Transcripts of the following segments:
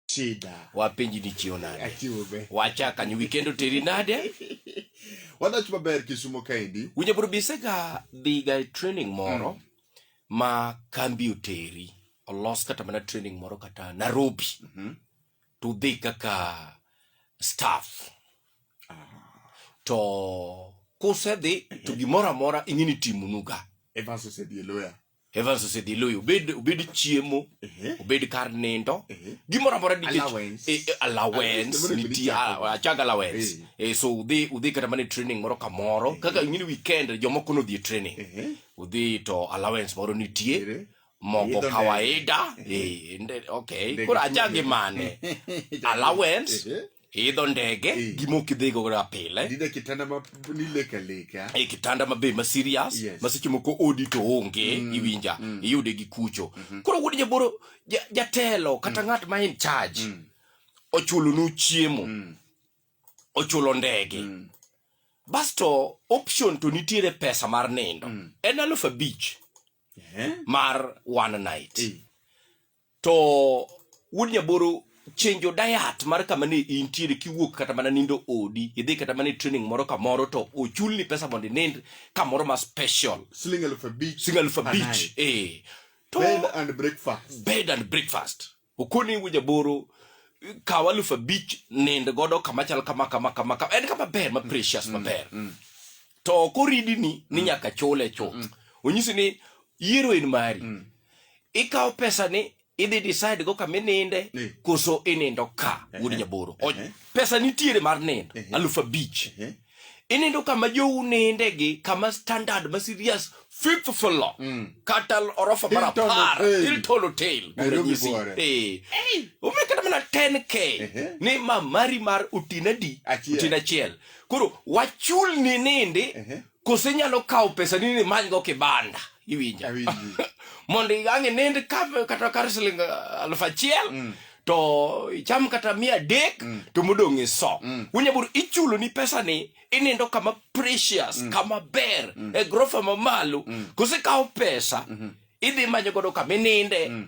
Shida. Wapenji ni chio nade? Achiwo be. Wacha kanyo weekend oteri nade? Wadach maber Kisumo kaendi. Winyo bro bisega dhiga e training moro mm. ma kambi oteri. Olos kata mana training moro kata Nairobi. Mm -hmm. To dhi kaka staff. Ah. To kusedhi to gimoro amora ing'e ni timunuga. Evans osedhi e loya. Evans osedhi loyo obed obed chiemo obed kar nindo gimoro amora nikech Allowance. eh, eh, allowance Allowance, nitie ah, achag allowance Eh, so udhi udhi kata mana e training moro kamoro kaka ing'ini weekend jomoko nodhi e training udhi to allowance moro nitie Ere. mogo Idho ndege. kawaida eh, nde- okay Ndege koro achagi mane allowance Ehe. idho ndege Eh. gima ok idhigo ga pile Ninde kitanda ma nileka leka. e kitanda mabe ma serious Yes. ma seche moko odi to onge Mm, iwinja mm. iyude gi kucho Mhm. koro wuod jaboro ja- jatelo kata ng'at ma in charge Mm, ochulonu chiemo mm, ochulo ndege mm, basto option to nitiere pesa mar nindo mm. en alufu abich Eh? mar one night Eh, to wuod nyaboro chenjo dayat mar kama ne intiere kiwuok kata mana nindo odi idhi kata mana e training moro kamoro to ochulni pesa mondo inind kamoro ma special siling elfu abich siling elfu abich eh to bed and breakfast bed and breakfast okoni wuod nyaboro kaw aluf abich nind godo kama chal kama kama kama kama en kama ber ma precious mm, maber mm, mm. to koridini ni mm. nyaka chule chuth mm. onyisi ni yiero en mari mm. ikawo pesa ni idhi decide go kama ininde eh. koso inindo ka eh, wuod eh. nyaboro pesa nitiere mar nindo alufu abich inindo kama jou ninde gi kama standard ma serious fifth floor mm. kata orofa mar apar hilton hotel kuranyisi omiyo kata mana 10k ni mamari mar otinadi otin achiel koro wachul ni ninde kose inyalo kawo pesa ni nimanygo kibanda iwinja Awinji. mondo ang' inind ka- kata kar siling ah, aluf achiel Mm. to icham kata mia adek Mm. to modong' iso Mm. unyabur ichulo ni pesa ni inindo kama precious kama ber e grofa mamalo kose kawo pesa idhi manyo godo kama ininde Mm.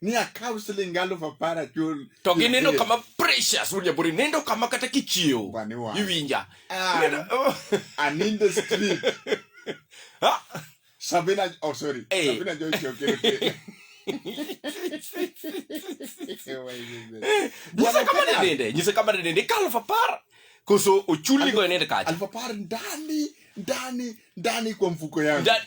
ni akaw siling aluf apar achul to gineno kama precious wuod nyabori nindo kama kata kichiew Bani wang'. iwinja Ah. Nindo- oh. and in the street Ah, sabina oh sorry Eh. sabina joy chokere nyisa kama ne nende nyisa kama ne nende kaluf apar koso ochulnigo e nindo kacha aluf apar ndani ndani ndani kwa mfuko yangu Nda-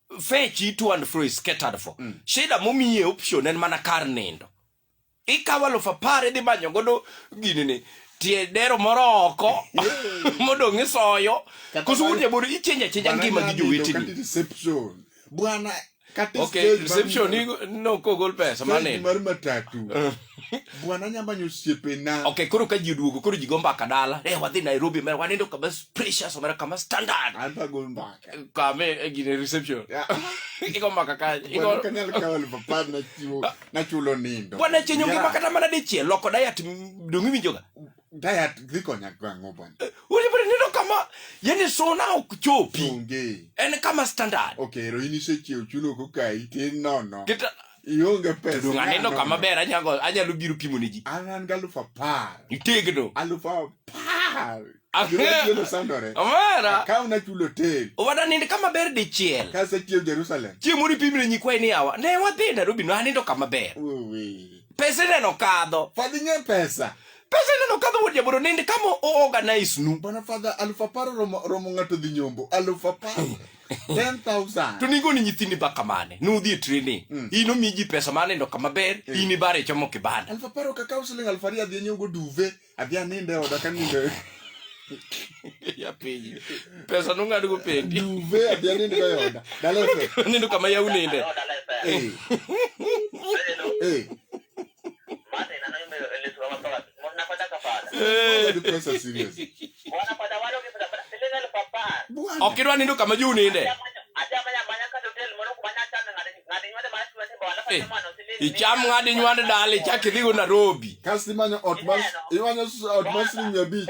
fetch it to and fro is catered for mm. shida momiye option en mana kar nindo ikawo alufu apar idhi manyo godo ginini tie dero moro oko modong' isoyo koso wuod jabodo ichenja chenja ngima gi jowetini bwana okay reception ni no kogol pesa maneno mar matatu bwana anya manyo osiepena okay koro ka ji oduogo koro ji go mbaka dala eh wadhi nairobi mera wanindo kama precious omera kama standard an to agol mbaka kame e gine reception Ya. igo mbaka ka Bwana, igo kanyal kawo elfu apar nachiwo nachulo nindo bwana chenyo ngima Yeah. kata mana dichiel loko diet m- dongi winjoga diet dhi konya gang'o bwana eh, ulibere neno kama yani sona okuchopi onge en kama standard okay ro ini se chiew chulo ko kai tin nono kita ionge pesa dong aneno kama ber anyago anyalo biro pimo ne ji an an ga alufu apar itegno alufu apar Ageno sandore. Omera. Akaw na chulo tel. Owada nind kama ber dichiel. Kase chiew Jerusalem. Chiew muri pimre nyikwae ni awa. Ne wadhi Nairobi no anindo kama ber. Uwi. Pesa neno kadho. Fadhi nye pesa. pesa ineno kadho wuod jaboro nende kama oorganize nu bana father aluf apar romo, romo ng'ato dhi nyombo aluf apar 10,000 to ningo ni nyithindi baka mane nudhi e training mm. ino mi ji pesa mane ndo kama ber mm. ini bare e chomo kibanda aluf apar okakaw siling aluf ariyo adhi anyogo duve adhi aninde oda kaninde ya piny pesa nong'ad go pendi duve adhi aninde go oda dalefe nindo kama yauninde eh. eh. ok idwa nindo kama ji uninde eh, icham ng'ad inywand dala ichak idhigo nairobi kasto imanyo ot mar siling' mia abich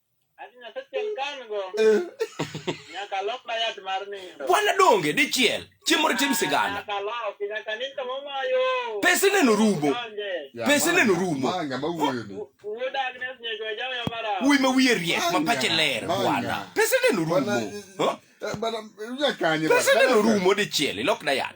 Bwana donge dichiel chiemo ritim sigana pese neno rumo pese neno rumo wuy ma wiye riek ma pache ler bwana pese neno rumo pese neno rumo dichiel ilokna yat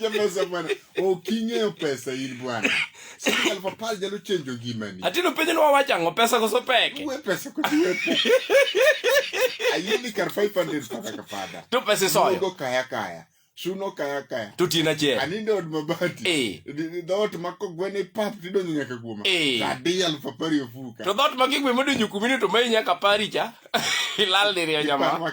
Jamasa bwana, uking'eyo pesa in bwana. Sasa alfa pal jalo chenjo gimani. Atino penjo ni wawacha ngo pesa koso peke. Uwe pesa kutie. Ayini kar 500 paka kafada. Tu pesa soyo. Ugo kaya kaya. chuno kaya kaya to tin achiel aninde od mabati eh. dhoot ma kogwene pap tidonjo nyaka kuoma eh. adi aluf apar e ofuka to dhoot ma kigwe modonjo kumini to mai nyaka pari cha ilal diriyo nyama